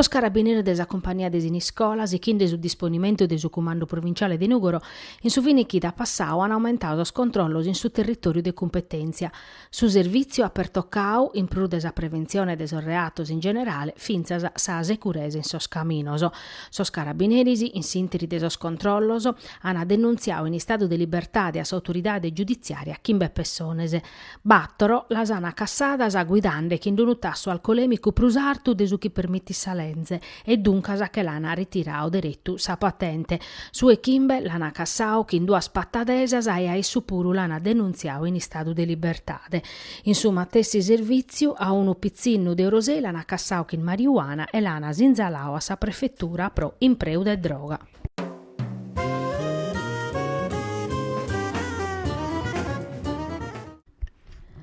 Sos carabiniris de sa cumpania de Siniscola, sighinde su disponimentu de su Cumandu Provinciale de Nùgoro, in su fini chida passadu an aumentadu sos controllos in su territòriu de cumpetèntzia. Su servìtziu at pertocau, in prus de sa preventzione de sos reatos in generale, fintzas sa seguresa in sos caminos. Sos carabineris, in s'ìnteri de sos controllos, ant denuntziadu in istadu de libertade a s'autoridade giuditziària chimbe pessones. Bàtoro las ant cassadas guidande chin unu tassu alcolèmicu prus artu de su chi permitit sa leze e duncas che l'an ritiradu deretu sa patente. Su 'e chimbe l'an cassadu chin duas patadesas e a issu puru l'an denuntziadu in istadu de libertade. In su matessi servìtziu a unu pitzinnu de Orosei l'an cassadu chin mariuana e l'an sinzaladu a sa prefetura pro impreu de droga.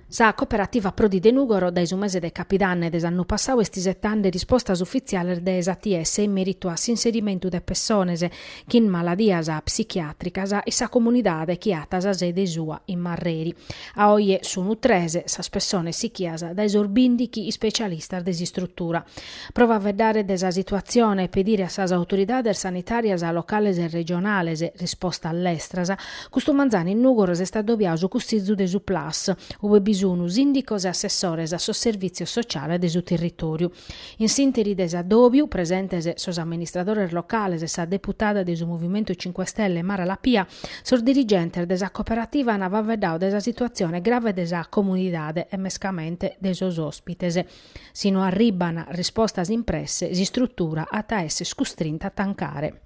Sa Cooperativa Prodi de Nùgoro dae su mese de capidanne de s'annu passadu est isetende rispostas ufitziales de s'ATS in mèritu a s'inserimentu de pessones chin maladias psichiàtricas in sa comunidade chi at sa sede sua in Marreri. A oje sunt tres sas pessones sichias dae sos bìndighi ispecialistas de s'istrutura. Pro faeddare de sa situatzione e pedire a sas autoridades sanitàrias locales e regionales rispostas lestras, custu manzanu in Nùgoro s'est adobiadu su Cussizu de su Plus, ue bi sunu sìndicos e assessores a sos servìtzios sociales de su territòriu. In s'ìnteri de s'adòbiu, presentes sos amministradores locales e sa deputada de su Movimentu Cinque Stelle Mara Lapia, sos dirigentes de sa cooperativa ant faeddadu de sa situatzione grave de sa comunidade e mescamente de sos òspites. Si no arribban rispostas in presse, s'istrutura at a esser custrinta a tancare.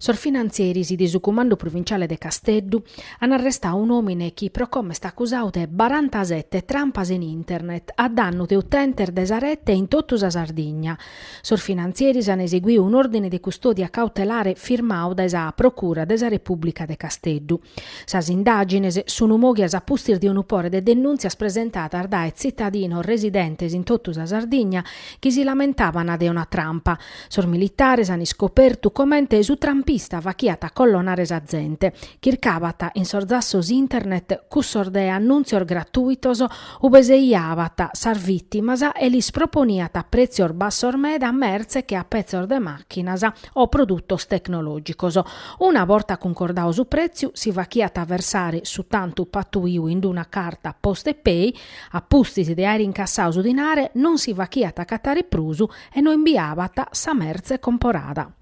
Sos finantzeris de su Cumandu Provinciale de Casteddu an arrestadu un'omine chi pro como est accusadu de barantasette trampas in internet a dannu de utentes de sa rete in totu sa Sardigna, Sos finantzieris an eseguiu un'òrdine de custòdia cautelare firmadu dae sa Procura de sa Repùblica de Casteddu. Sas indàgines sunu moghias a pustis de unu pore de denùntzias presentadas dae tzitadinos residentes in totu sa Sardigna chi si lamentaban de una trampa. Sos militares an iscopertu comente su trampista faghiat a collonare sa zente, chircabat in sos zassos internet cussos de annùntzios gratuitos Ube seiabant sas vìtimas e lis proponiant a prètzios bassos meda mertze che a petzos de màchinas o produtos tecnològicos. Una borta cuncordadu su prètziu, si faghiant versare su tantu patuiu in una carta Postepay, a pustis de àere incassadu su dinare, non si faghiant acatare prus e no imbiabant sa mertze comporada.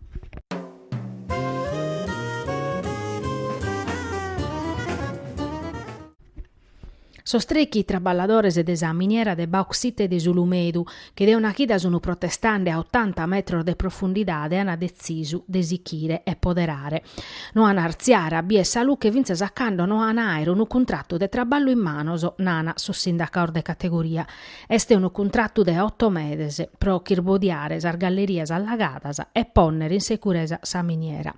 Sos trechi traballadores de sa miniera de bauxite de s'Ulumedu, chi de una chida sun protestende a otanta metros de profundidade, an detzisu de sichire e poderare. No an artziare a bier sa luche fintzas a cando no an àere unu cuntratu de traballu in manos, nana sos sindacados de categoria. Est unu cuntratu de oto meses pro ch'irbodiare sas gallerias allagadas e pònnere in seguresa sa miniera.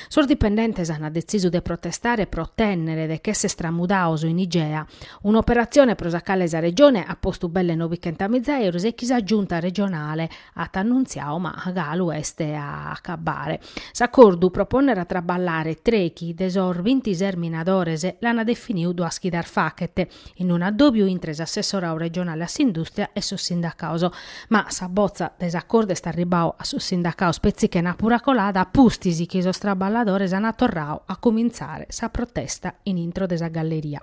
Sos dipendentes ant detzisu de protestare pro otènnere de ch'èsser tramudados in Igea, un'operatzione pro sa cale sa Regione at postu belle nobichentamiza èuros e chi sa Giunta regionale at annuntziadu ma galu est a acabare. S'acordu pro pònnere a traballare trechi de sos bintises minadores l'ant definidu duas chidas faghet, in un'addòbiu intre s'assessorau regionale a s'indùstria e sos sindacados. Ma sa botza de s'acordu est arribau a sos sindacados petzi chenàpura colada a pustis chi sos traballadores ana torrau a comintzare sa protesta in intro de sa galleria.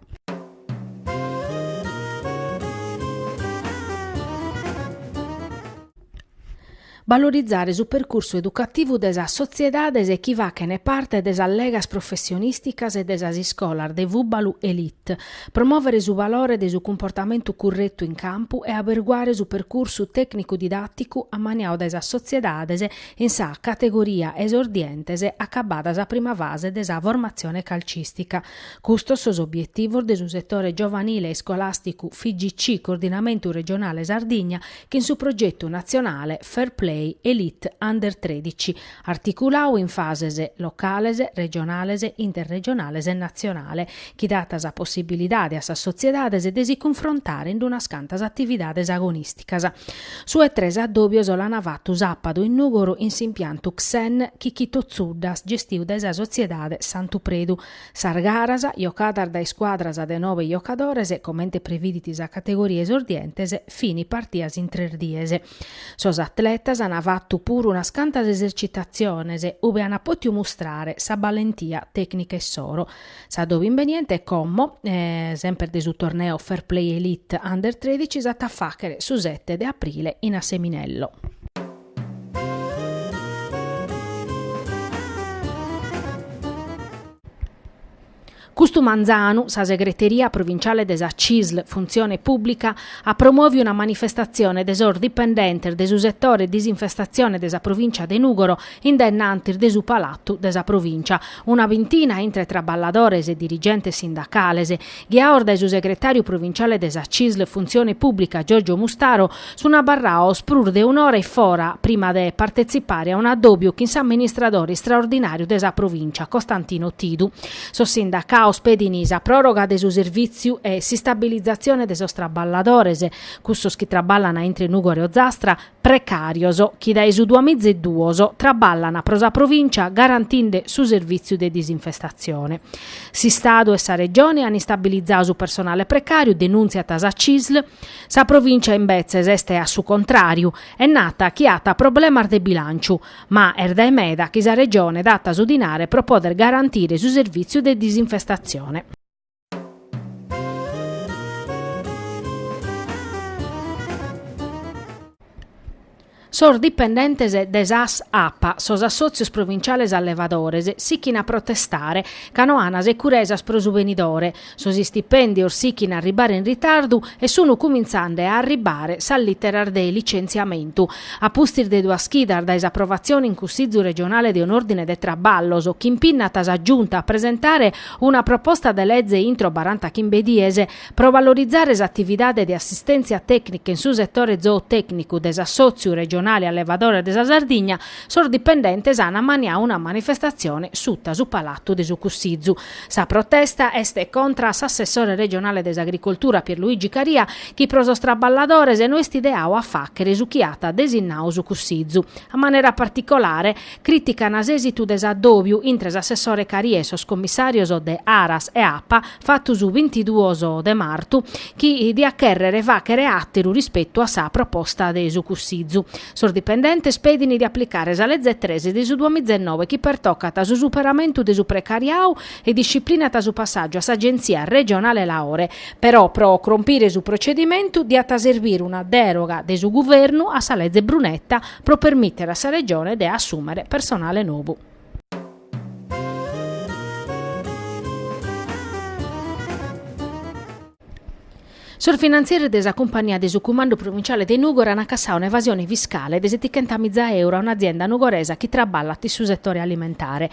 Valorizare su percursu educativu de sas sotziedades chi fachene parte de sas legas professionìsticas e de sas iscolas de fùbalu elite, promòvere su valore de su cumportamentu curretu in campu e aberguare su percursu tècnicu-didàticu ammaniadu dae sas sotziedades in sa categoria esordientes acabada sa prima fase de sa formatzione calcìstica. Custos sos obietivos de su setore giovanile iscolàsticu FIGC Coordinamentu Regionale Sardigna chin su progetu natzionale Fair Play Elite Under tredici, articulau in fases locales, regionales, interregionales e natzionale, chi dat sa possibilidade a sas sotziedades de si cunfrontare in unas cantas atividades agonìsticas. Su 'e tres addòbios l'ana fatu sàpadu in Nùgoro in s'impiantu CSEN Chicchito Zuddas gestiu dae sa sotziedade Santu Predu, Sas garas, jocadas dae scuadras de nobe jocadores, comente previdit sa categoria esordientes, fin partias in tres dies. Sos atletas an fatu puru unas cantas esercitatziones, ube an pòtiu mustrare sa ballentia tècnica issoro. S'addòbiu imbeniente como, semper de su torneo Fair Play Elite Under tredici s'at a fàghere su sete de aprile in Asseminello. Custu manzanu sa Segreteria Provinciale de sa CISL Funtzione Pùblica at promòviu una manifestatzione de sos dipendentes de su setore disinfestatzione de sa Provìncia de Nùgoro in dennantis de su Palatu de sa Provìncia, una bintina intre traballadores e dirigentes sindacales, Ghiados dae su segretàriu provinciale de sa Cisl Funtzione Pùblica Giorgio Mustaro sunt abarrados prus de un'ora e fora prima de partetzipare a un'addòbiu chin s'amministradore istraordinàriu de sa provìncia Costantino Tidu. Sos sindacados pedint sa pròroga de su servìtziu e s'istabilizatzione de sos traballadores, custos chi traballan intre Nùgoro e Ozastra, precàrios chi dae su duamiza e duos traballan pro sa Provìncia garantinde su servìtziu de disinfestatzione. S'Istadu e sa Regione an istabilizadu su personale precàriu, denùntziat sa Cisl. Sa Provìncia imbetzes est a su contràriu e nat chi at problemas de bilànciu, ma est dae meda chi sa Regione dat su dinare pro poder garantire su servìtziu de disinfestatzione. Sos dipendentes de sas Apa, sos assòtzios provinciales allevadores, sichint a protestare, ca no ant securesas pro su benidore, sos istipèndios sichint a arribare in ritardu e sunt cumintzende a arribare sas lìteras de licenziamentu. A pustis de duas chidas dae s'aprovatzione in Cussìgiu regionale de un'òrdine de traballos chi impinnat sa Giunta a presentare Una proposta de lege intro baranta chimbe dies pro valorizare s'atividade de assistèntzia tècnica in su setore zootècnicu de s'Assòtziu regionale allevadores de sa Sardigna, sos dipendentes an ammaniadu una manifestatzione suta su Palatu de su Cussizu. Sa protesta est contra a s'assessore regionale de s'Agricoltura Pierluigi Caria chi pro sos traballadores no est ideadu a fàghere su chi at desinnadu su Cussizu. A manera particolare, Critican s'èsitu de s'addòbiu intre s'assessore Caria e sos commissàrios de Aras e Apa fatu su bintiduos de martu chi diat chèrrere fàghere àteru rispetu a sa proposta de su Cussizu. Sos dipendentes pedin de aplicare sa Leze tres de su duamizennoe chi pertocat su superamentu de su precariadu e disciplinat su passàgiu a s'Agenzia regionale laore, però pro crompire su procedimentu diat serbire una dèroga de su Guvernu a sa Leze Brunetta, pro permìtere a sa Regione de assùmere personale nou. Sos finantzieris de sa cumpagnia de su Cumandu Provinciale de Nùgoro ant acassadu un'evasione fiscale de setichentamiza euro a un'azienda nugoresa chi traballat in su setore alimentare,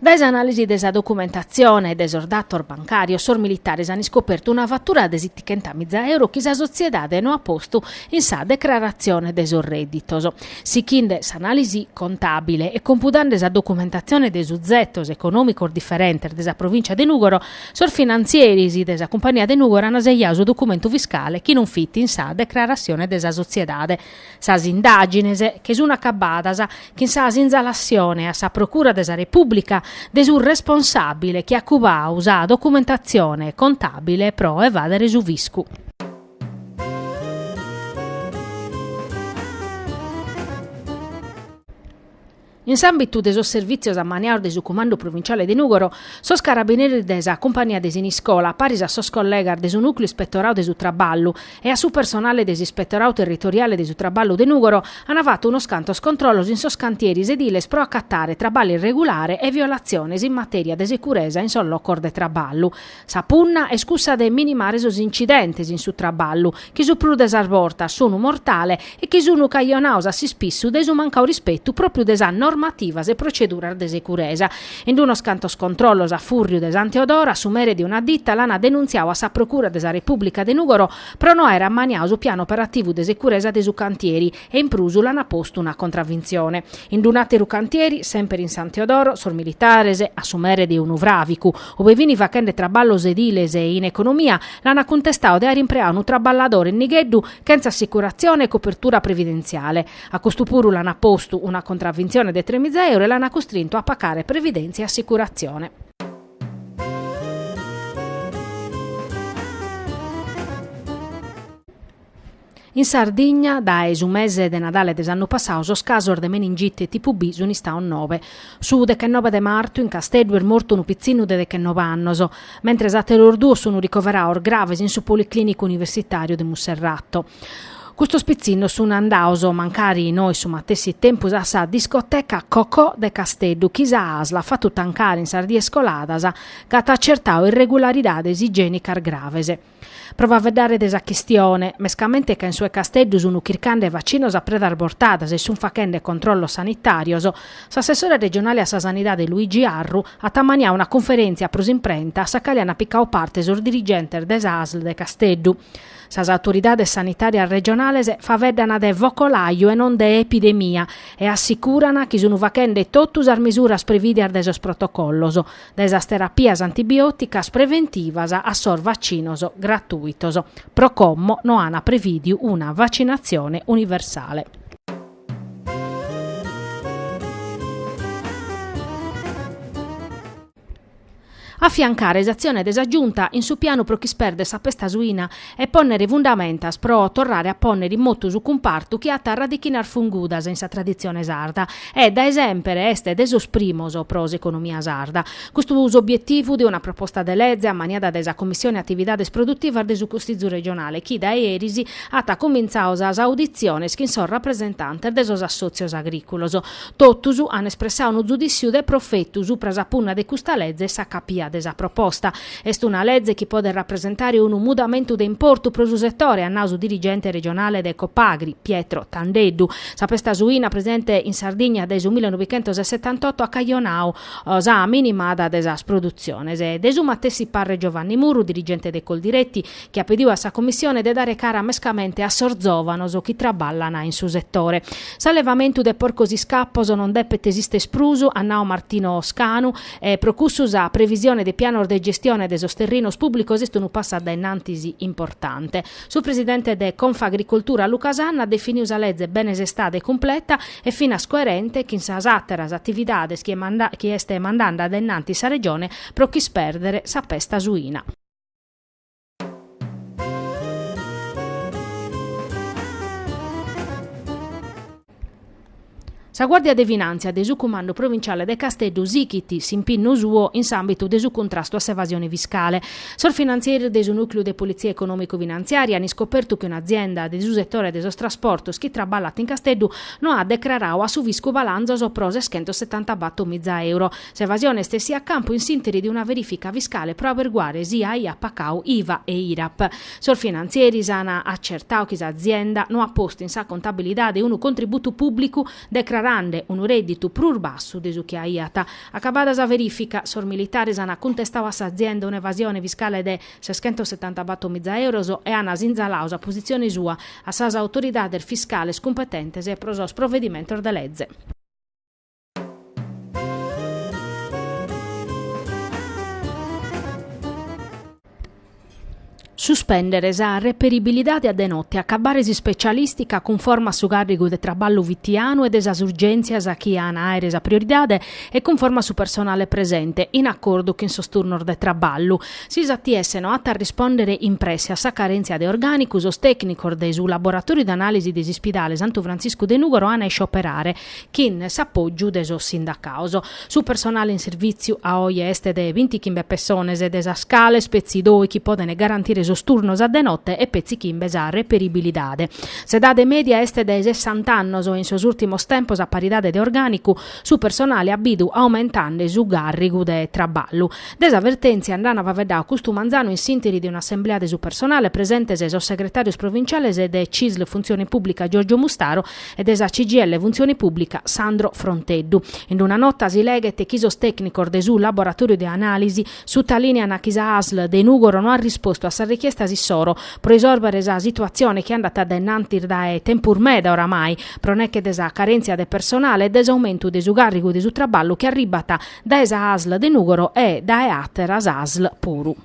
Dae s'anàlisi de sa documentatzione e de sos datos bancàrios, sos militares ant iscopertu una fatura de sitichentamiza euro chi sa sotziedade no at postu in sa declaratzione de sos rèditos. Sichinde s'anàlisi contàbile e compudende sa documentatzione de suzetos econòmicos diferentes de sa provìncia de Nùgoro, sos finantzieris de sa cumpania de Nùgoro ant sejadu su documentu fiscale chi non fit in sa declaratzione de sa sotziedade. Sas indàgines, sun acabadas chin sa sinzalassione a sa Procura de sa Repùblica de su responsàbile chi at cubadu sa documentatzione contàbile pro evàdere su fiscu. In s'àmbitu de sos servìtzios ammaniados de su Cumandu Provinciale de Nùgoro, sos carabineris de sa Cumpania de Siniscola, paris a sos collegas de su Nùcleu Ispetoradu de su Traballu e a su personale de s'Ispetoradu Territoriale de su Traballu de Nùgoro, ant fatu unos cantos controllos in sos cantieris ediles pro acatare traballu irregulare e violatziones in matèria de securesa in sos locos de traballu. Sa punna est cussa de minimare sos incidentes in su traballu, chi su prus de sas bortas sunu mortale e chi sunu cajonados a s'ispissu de su mancadu rispetu pròpriu de sas normativas e proceduras de securesa. In unos cantos controllos a fùrriu de Santu Tiadoru, su mere de una ditta l'an denuntziadu a sa Procura de sa Repùblica de Nùgoro pro no aer ammaniadu su pianu operativu de securesa de su cantieri, e in prus l'ant postu una contravintzione. In d'un'àteru cantieri, semper in San Teodoro, sos militares, a su mere de unu fràvicu, ue fini fachende traballos ediles in economia, l'ant cuntestadu de àere impreadu unu traballadore in nigheddu chentza assicuratzione e copertura previdentziale. A custu puru l'ant postu una contravintzione de tremiza euro e l'ant custrintu a pacare previdèntzia e assicuratzione. In Sardigna, dae su mese de Nadale de s'annu passadu, sos casos de meningite tipu B sunt istados nobe. Su dechenobe de martu, in Casteddu, est mortu unu pitzinnu de dechenobe annos, mentres àteros duos sunt ricoverados graves in su Policlìnicu Universitàriu de Monserrato. Custos pitzinnos sunt andados, mancari no in su matessi tempus, a sa discoteca Cocò de Casteddu, chi sa ASL at fatu tancare in sas dies coladas ca at acertadu irregularidades igiènicas graves. Pro faeddare de sa chistione, mescamente ca in su 'e Casteddu sun chircande vacinos a predas bortadas e sun fachende controllos sanitàrios, s'assessore regionale a sa Sanidade Luigi Arru at ammaniadu una cunferèntzia pro s'imprenta a sa cale ant picadu parte sos dirigentes de sa ASL de Casteddu. Sas autoridades sanitàrias regionales faeddana de focolaju e non de epidemia e assicurana chi sun fachende totu sas mesuras prevìdias dae sos protocollos, dae sas terapias antibiòticas preventivas a sos vacinos gratuitos, pro como no an prevìdiu una vacinatzione universale. Afiancare s'atzione de sa Giunta in su pianu pro ch'ispèrdere sa pesta suina e pònnere fundamentas pro torrare a pònnere in motu su cumpartu chi at radichinas fungudas in sa traditzione sarda e, dae semper, est de sos primos pro s'economia sarda. Custu s'obietivu de una proposta de leze ammaniada dae sa Commissione Atividades Produtivas de su Cussizu Regionale chi, dae eris, at comintzadu sas auditziones chin sos rapresentantes de sos assòtzios agrìculos. Totus an espressadu unu zudìssiu de profetu supra sa punna de custa lege e sa capia de sa proposta. Est una leze chi podet rapresentare unu mudamentu de importu pro su setore, at nau su dirigente regionale de Copagri, Pietro Tandeddu. Sa pesta suina presente in Sardigna dae su millenovichentossetantotto at cajonau sa minimada de sas produtziones. De su matessi pàrrere Giovanni Murru, dirigente de Coldiretti, chi at pediu a sa Commissione de dare cara mescamente a sos zòvanos chi traballan in su setore. S'allevamentu de porcos iscapos non depet esìstere prus, at nau Martino Scanu, E pro cussu sa previsione de pianos de gestione de sos terrinos pùblicos est unu passu a dae in antis importante. Su presidente de Confagricoltura Luca Sanna at definidu sa leze bene sestada e cumpleta e finas coerente chin sas àteras atividades chi est mandende a dae in antis sa Regione pro ch'ispèrdere sa pesta suina. Sa Guàrdia de Finàntzia de su Cumandu Provinciale de Casteddu sighit s'impinnu suo in s'àmbitu de su cuntrastu a s'evasione fiscale. Sos finantzieris de su Nùcliu de Politzia Econòmicu-Finantziària an iscopertu chi un'azienda de su setore de sos trasportos chi traballat in Casteddu no at decraradu a su fiscu balanzos pro seschentosetantabator miza euro S'evasione est essia a campu in s'interi de una verifica fiscale pro aberguare si aiat pacau IVA e IRAP. Sos finantzieris an acertau chi s'azienda no at postu in sa contabilidade unu contributu pùblicu decrarande unu rèdditu prus bassu de su chi aiat. Acabada sa verifica, sos militares an cuntestau a s'azienda un'evasione fiscale de seschentosetantabator miza euros e an sinzalau sa positzione sua a sas autoridades fiscales cumpetentes pro sos provedimentos de leze. Suspèndere sa reperibilidade a de note, agabbare s'ispecialìstica cunforma a su càrrigu de traballu fitianu e de sas urgèntzias chi an a àere sa prioridade e cunforma a su personale presente, in acordu chin sos turnos de traballu. Si s'ATS no at a arrispòndere in presse a sa carèntzia de orgànicu, sos tècnicos de su Laboratòriu de Anàlisi de s'Ispidale Santu Frantziscu de Nùgoro an a iscioperare. Chin s'apògiu de sos sindacaos, su personale in sirvìtziu a oje est de bintichimbe pessones, de sas cales petzi dòichi podent garantire sos turnos a de note e petzi chimbe sa reperibilidade. S'edade mèdia est de sessant'annos e in sos ùrtimos tempos a paridade de orgànicu su personale at bidu aumentande su càrrigu de traballu. De sa vertèntzia nd'an faveddau custu manzanu in s'ìnteri de un'assemblea de su personale presentes sos segretàrios provinciales de Cisl Funtzione Pùblica Giorgio Mustaro e de sa CGIL Funtzione Pùblica Sandro Fronteddu. In una nota si leghet chi sos tècnicos de su laboratòriu de anàlisi sutalìnean chi sa ASL de Nùgoro no at rispostu a sas richiestas issoro pro isòrbere sa situatzione chi andat dae innantis dae tempus meda oramai pro neche de sa carèntzia de personale e de s'aumentu de su càrrigu de su traballu chi arribbat dae sa ASL de Nùgoro e dae àteras ASL puru.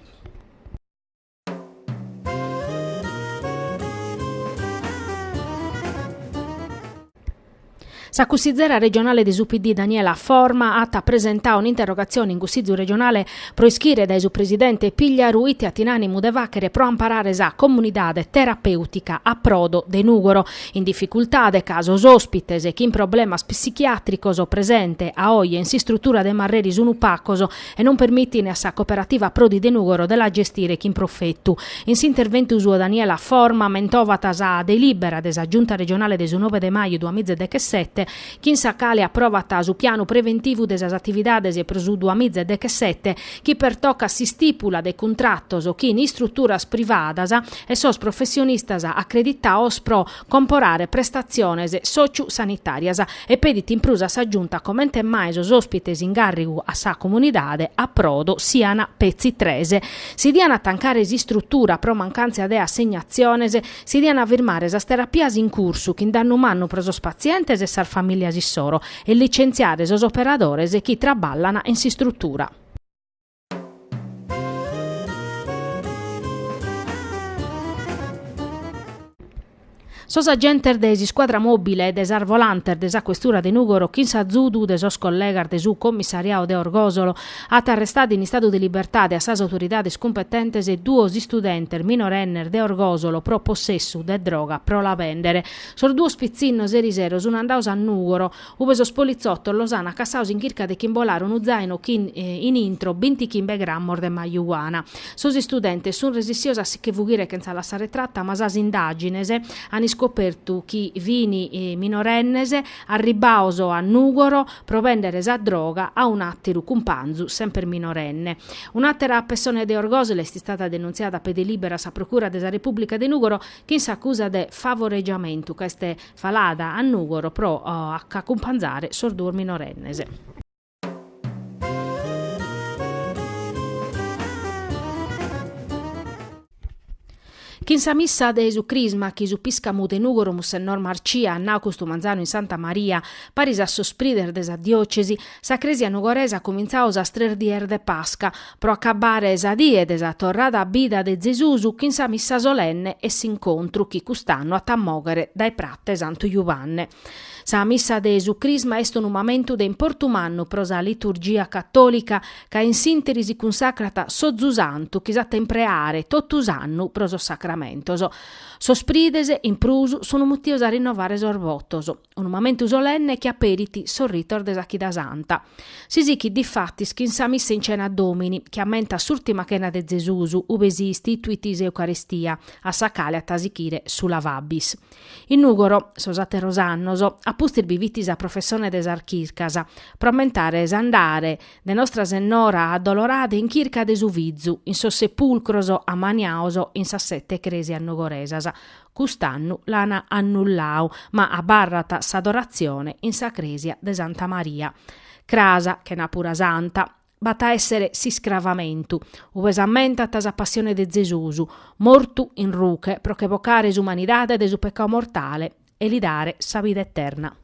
Sa cussizera regionale de su PD Daniela Forma at presentau un'interrogatzione in Cussizu regionale pro ischire dae su presidente Pigliaru ite at in ànimu de fàchere pro amparare sa comunidade terapèutica Approdo de Nùgoro, in dificultade ca sos òspites chin problemas psichiàtricos presente a oje in s'istrutura de Marreri sun pacos e non permitin a sa Cooperativa Approdi de Nùgoro de la gestire chin profetu. In s'interventu suo Daniela Forma ammentovat sa delìbera de sa Giunta Regionale de su nove de maju duamiza e dechesete chin sa cale aprovat su pianu preventivu de sas atividades pro su duamiza e dechesete chi pertocat s'istìpula de cuntratos chin istruturas privadas e sos professionistas acreditaos pro comporare prestatziones sòciu-sanitàrias e pedit in prus a sa Giunta comente mai sos òspites in càrrigu a sa comunidade Approdo sian petzi tres. Si dian tancare s'istrutura pro mancàntzia de assignatziones, si dian firmare sas terapias in cursu chin dannu mannu pro sos patzientes e sas famìlias issoro e licentziare sos operadores chi traballan in s'istrutura. Sos agentes de s'iscuadra mòbile e de sas volantes de sa questura de Nùgoro chin s'azudu de sos collegas de su commissariadu de Orgòsolo ant arrestadu in istadu de libertade a sas autoridades cumpetentes duos istudentes minorennes de Orgòsolo pro possessu de droga pro la bèndere. Sos duos pitzinnos erisero sun andaos a Nùgoro Ube sos politzotos los an acassaos in chirca de ch'imbolare unu zaino chin in intro binti chimbe grammos de marijuana. Sos istudentes sun resissios a si che fughire chentza lassare tratta ma sas indagines an iscopertu chi fin minorennes arribbaos a Nugoro pro bendere sa droga a un atteru cumpanzu semper minorenne. Un'attera pessone de Orgosolo est istada denunziada a pede liberu a sa Procura de sa Repubblica de Nugoro chin s'accusa de favoregiamentu ca est Falada a Nùgoro pro acumpanzare sos duos minorennes. Chin sa missa de su Crisma chi su piscamu de Nùgoro Mussennor Marcìa at nau custu manzanu in Santa Maria, paris a sos prides de sa diòcesi, sa Crèsia nugoresa at cumintzau sas tres dies de Pasca, pro acabare sa die de sa torrada a bida de Zesus chin sa missa solenne e s'incontru chi cust'annu at a moghere dae Prate Santu Juvanne. Sa missa de su Crisma est unu mamentu de importu mannu pro sa liturgia catòlica ca in s'interi si cunsacrat s'ozu santu chi s'at a impreare totu s'annu pro sos sacramentos. Sos prides, in prus, sun mutidos a rinnovare sos votos. unu mamentu solenne chi aperit sos ritos de sa Chida Santa. Si sichit difatis chin sa Missa in Cena Domini, chi ammentat s'Urtima Chena de Zesus, ube si istituit s'Eucaristia, a sa cale at a sichire su Lavabis. In Nùgoro, sos àteros annos, a pustis bi fit sa professone de sas chircas, pro ammentare s'andare de Nostra Sennora Addolorada in chirca de su Fizu in sos sepulcros ammaniados in sas sete crèsias nugoresas, Cust'annu l'an annullau, ma abarrat s'adoratzione in sa crèsia de Santa Maria. Cras, chenàpura santa, b'at a èssere s'iscravamentu, ube s'ammentat sa passione de Zesus, mortu in ruche pro che bocare s'umanidade dae su pecau mortale e li dare sa vida eterna.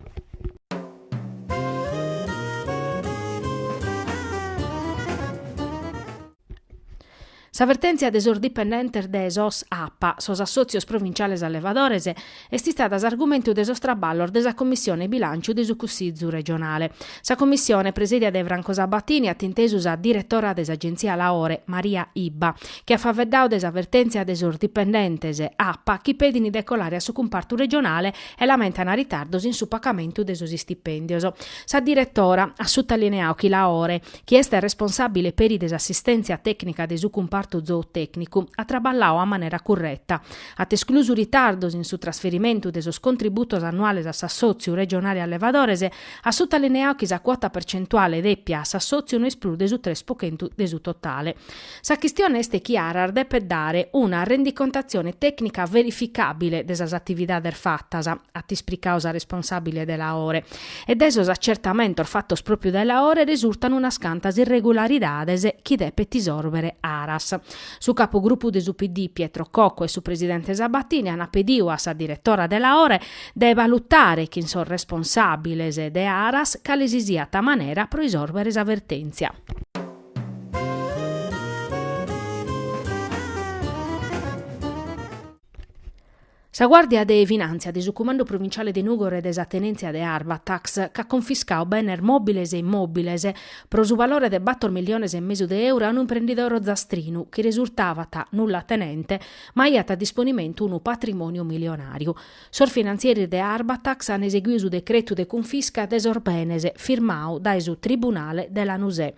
Sa vertèntzia de sos dipendentes de sos Apa, sos assòtzios provinciales allevadores, est istada s'argumentu de sos traballos de sa Commissione Bilànciu de su Cussizu regionale. Sa Commissione, presèdia dae Franco Sabatini, at intesu sa diretora de s'Agenzia Laore, Maria Ibba, chi at faveddadu de sa vertèntzia de sos dipendentes Apa chi pedin de colare a su cumpartu regionale e lamentan ritardos in su pagamentu de sos istipèndios. Sa diretora at sutalineadu chi Laore chi est responsàbile peri de s'assistèntzia tècnica de su cumpartu zootècnicu, at traballadu a manera curreta, at esclusu ritardos in su trasferimentu de sos contributos annuales a s'assòtziu regionale allevadores e at sutalineadu chi sa cuota percentuale dèpia a s'assòtziu no est prus de su tres po chentu de su totale. Sa chistione est chi Aras depet dare una rendicontatzione tècnica verificàbile de sas atividades fatas, at ispricadu sa responsàbile de Laore, e dae sos atzertamentos fatos pròpiu dae Laore resurtan unas cantas irregularidades chi depet isòrbere Aras. Su capugrupu de su PD Pietro Cocco e su presidente Sabatini ant pedidu a sa diretora de Laore de balutare chin sos responsàbiles de Aras cale si siat manera pro isòrbere sa vertèntzia. Sa Guàrdia de Finàntzia de su Cumandu Provinciale de Nùgoro e de sa Tenèntzia de Arbatax ch'at confiscadu benes mòbiles e immòbiles pro su valore de bator miliones e mesu de euro a unu imprendidore ozastrinu chi resurtavat nullatenente ma aiat a disponimentu unu patrimòniu milionàriu. Sos finantzieris de Arbatax an eseguidu su decretu de cunfisca de sos benes firmadu dae su tribunale de Lanusè.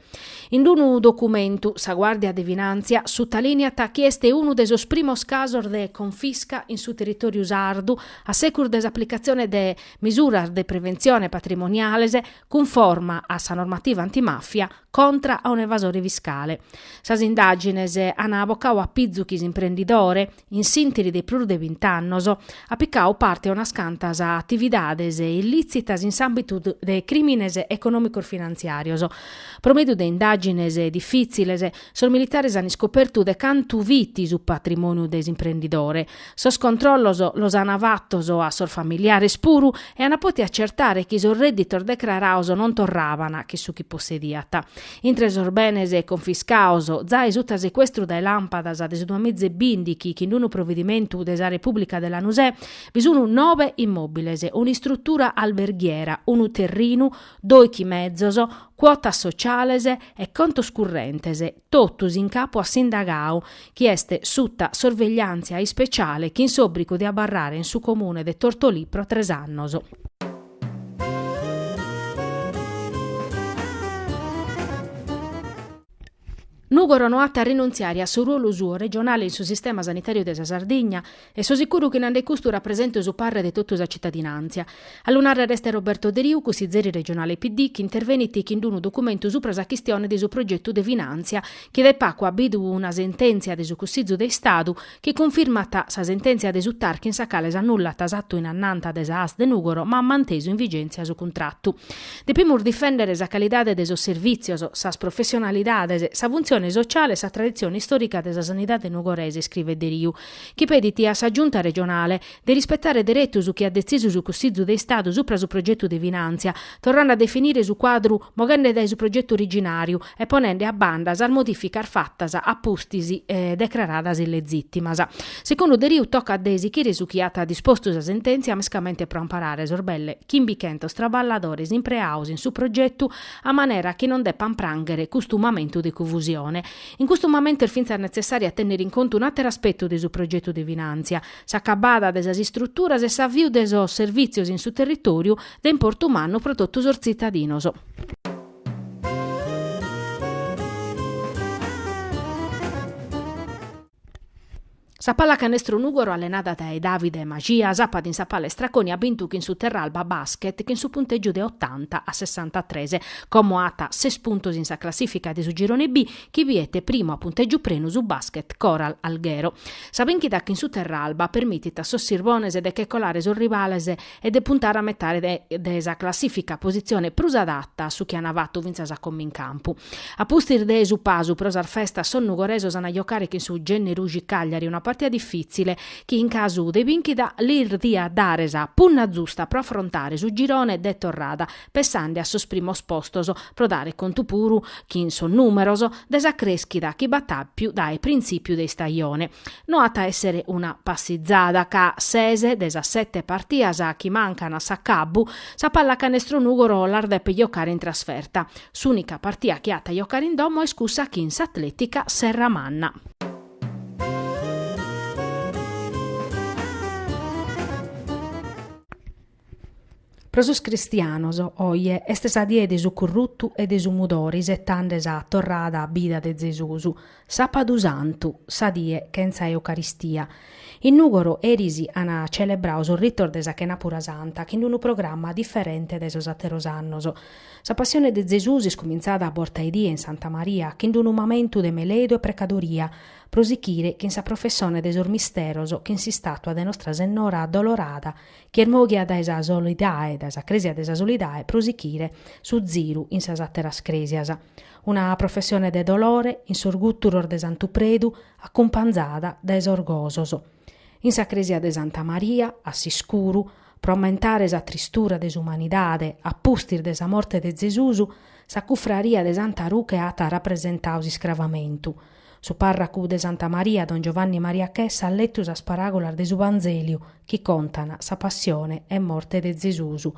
In unu documentu, sa Guàrdia de Finàntzia sutalìniat chi est unu de sos primos casos de confisca in su territòriu sardu a segus de s'aplicatzione de misuras de preventzione patrimoniales cunforma a sa normativa antimàfia contra a un'evasore fiscale. Sas indàgines an bocadu a pizu chi s'imprendidore, In s'inghìriu de prus de bint'annos at picau parte a unas cantas atividades illitzitas in s'ambitu de crimines economicos finanziarios. Pro mediu de indagines diffiziles, sos militares an iscopertu de cantu fit su patrimoniu de s'imprendidore. Sos controllos los an fattos a sos familiares puru e an potiu accertare chi sos redditos decraraos non torraban chin su chi possediat. Intre sos benes confiscados, zai suta secuestru dae làmpadas de su duamiza e bindighi chin d-unu providimentu de sa Repùblica de Lanusè bi sun nobe immòbiles, un'istrutura alberghiera, unu terrinu, doichi mezos, cuotas sociales e contos currentes, totus in capu a s'indagadu, chi est suta sorvegliàntzia ispeciale chin s'òbrigu de abarrare in su comune de Tortolì pro tres annos. Nùgoro no at a rinuntziare a su ruolu suo regionale in su sistema sanitàriu de sa Sardigna e so sicuru chi nande custu rapresentu su parre de totu sa citadinàntzia. A lu nàrrere est Roberto Deriu, cussizeri regionale PD, chi intervenit chin d-unu documentu supra sa chistione de su progetu de finàntzia chi dae pagu at bidu una sentèntzia de su Cussizu de Istadu, chi cunfirmat sa sentèntzia de su TAR chin sa cale s'annullat s'atu in annanta de sa ASL de Nùgoro ma at mantesu in vigèntzia su cuntratu. Depimus difèndere sa calidade de sos servìtzios, sas professionalidades, sa funtzione sotziale e sa traditzione istòrica de sa sanidade nugorese, iscrivet Deriu, chi pedit a sa Giunta regionale, de rispetare deretu su chi at detzisu su Cussizu de Istadu supra su progetu de finàntzia, torrende a definire su cuadru moghende dae su progetu originàriu e ponende a banda sas modìficas fatas a pustis e decraradas illegìtimas. Segundu Deriu tocat de esichire su chi at dispostu sa sentèntzia mescamente pro amparare sos belle chimbichentos traballadores impreados in su progetu a manera chi non depan prànghere custu mamentu de cunfusione. In custu mamentu est fintzas netzessàriu a tènnere in contu un'àteru aspetu de su progetu de finàntzia, s'acabada de sas istruturas e s'aviu de sos servìtzios in su territòriu, de importu mannu pro totu sos tzitadinos. Sa Pallacanestro Nùgoro allenada dae Davide Maxia sàpadu in sa Palestra Coni at bintu chin su Terralba Basket chin su puntègiu de otanta a sessantatres. Como at ses puntos in sa classìfica de su Girone B chi bidet primu a puntègiu prenu su Basket Coral Alghero. Sa bìnchida chin su Terralba permitit a sos sirbones de che colare sos rivales e de puntare a metade de sa classìfica, positzione prus adata a su chi an fatu fintzas a como in campu. A pustis de su pasu pro sas festas sos nugoresos an a jocare chin su Genneruxi Cagliari una partida difìtzile chi in casu de bìnchida lis diat dare sa punna zusta pro afrontare su girone de torrada pessande a sos primos postos, pro dare contu puru, chin sos nùmeros, de sa crèschida chi b'at àpiu dae printzìpiu de istajone. No at a èssere una passizada ca, ses de sas sete partias chi mancan a s'acabbu, sa Pallacanestro Nùgoro las depet jocare in trasferta. S'ùnica partia chi at a jocare in domo est cussa chin s'Atlètica Serramanna. Pro sos cristianos, oje est sa die de su currutu e de su mudore isetande sa torrada a bida de Zesusu, Sàpadu Santu, sa die chentza Eucaristia. In Nùgoro eris an celebrau sos ritos de sa chenàpura santa chin unu programma diferente dae sos àteros annos. Sa Passione de Zesusu est cumintzada a borta 'e die in Santa Maria chin unu mamentu de meledu e precadoria, pro sichire chin sa professone de sos misteros chin s'istàtua de Nostra Sennora Addolorada chi est mòghia dae sa Solidae, dae sa crèsia de sa Solidae pro sichire su ziru in sas àteras crèsias. Una professione de dolore in sos gùturos de Santu Predu acumpanzada dae sos gosos. In sa crèsia de Santa Maria, a s'iscuru, pro ammentare sa tristura de s'umanidade a pustis de sa morte de Zesusu, sa cufraria de Santa Ruche at rapresentau s'iscravamentu, Su pàrracu de Santa Maria don Giovanni Maria Chessa at letu sas paràgolas de su Vanzeliu chi contan sa passione e morte de Zesusu.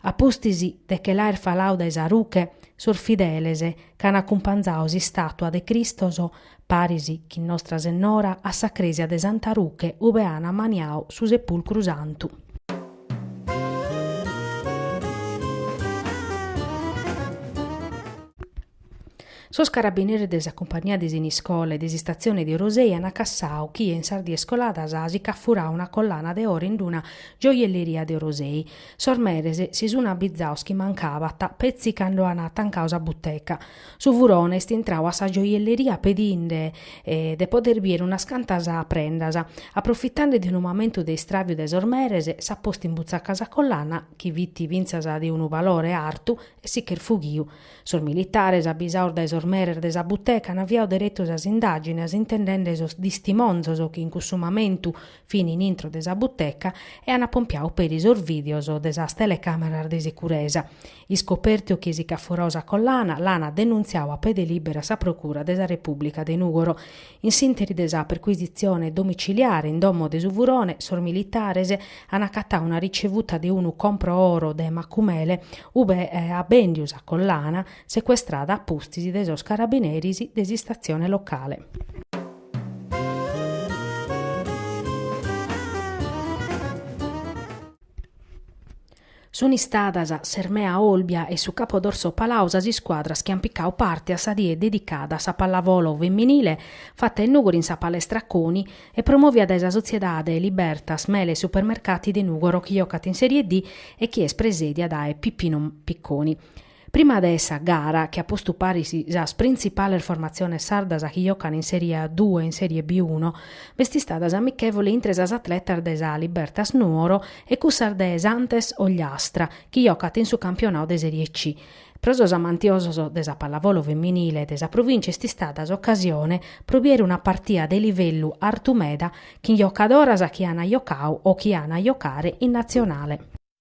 A pustis de che l'aer falau dae sa ruche, sos fideles ch'an acumpanzau s'istàtua de Cristos, paris chin Nostra Sennora, a sa crèsia de Santa Ruche ube an ammaniau su sepulcru santu. Sos carabineris de sa cumpagnia de Siniscola e de s'Istatzione de Orosei an cassadu chie in sas dies coladas si ch'at furadu una collana de oro in d-una gioielleria de Orosei. Sos meres si sun abbizados chi mancabant petzi cando an atancadu sa buteca. Su furone est intradu a sa gioielleria pedinde de poder bier unas cantas prendas. Aprofitende de unu mamentu de istràviu de sos meres, s'at postu in butzaca sa collana, chi fit fintzas de unu valore artu, e si ch'est fughidu. Sos militares, abisados dae sos meres de sa buteca, an aviadu deretu sas indàgines intendende sos distimonzos chi in cussu mamentu fin in intro de sa buteca e an pompiadu peri sos vìdeos de sas telecàmeras de sicuresa. Iscopertu chie si ch'at furadu sa collana, l'an denuntziadu a pede lìberu a sa Procura de sa Repùblica de Nùgoro. In s'interi de sa percuisitzione domiciliare in domo de su furone, sos militares an acatau una ricevuta de unu compro oro de Macumele, ube at bendiu sa collana, secuestrada a pustis de sos carabineris de s'istatzione locale. Sunt istadas s'Hermaea Olbia e su Capo d'Orso Palau sas iscuadras chi ant picadu parte a sa die dedicada a sa pallavolo feminile fata in Nùgoro in sa Palestra Coni e promòvia dae sa sotziedade Libertas Mele e Supermercati de Nùgoro chi jocat in Serie D e chi est presèdia dae Pippinu Picconi. Prima de sa gara, chi at postu paris sas printzipales formatziones sardas chi jocant in Serie A due e in Serie B uno, b'est istada s'amichèvole intre sas atletas de sa Libertas Nuoro e cussas de s'Antes Ogliastra, chi jocant in su campionadu de Serie C. Pro sos amantiosos de sa pallavolo feminile de sa provìncia est istada s'ocasione pro biere una partida de livellu artu meda chin jocadoras chi an jocadu o chi an a jocare in Natzionale.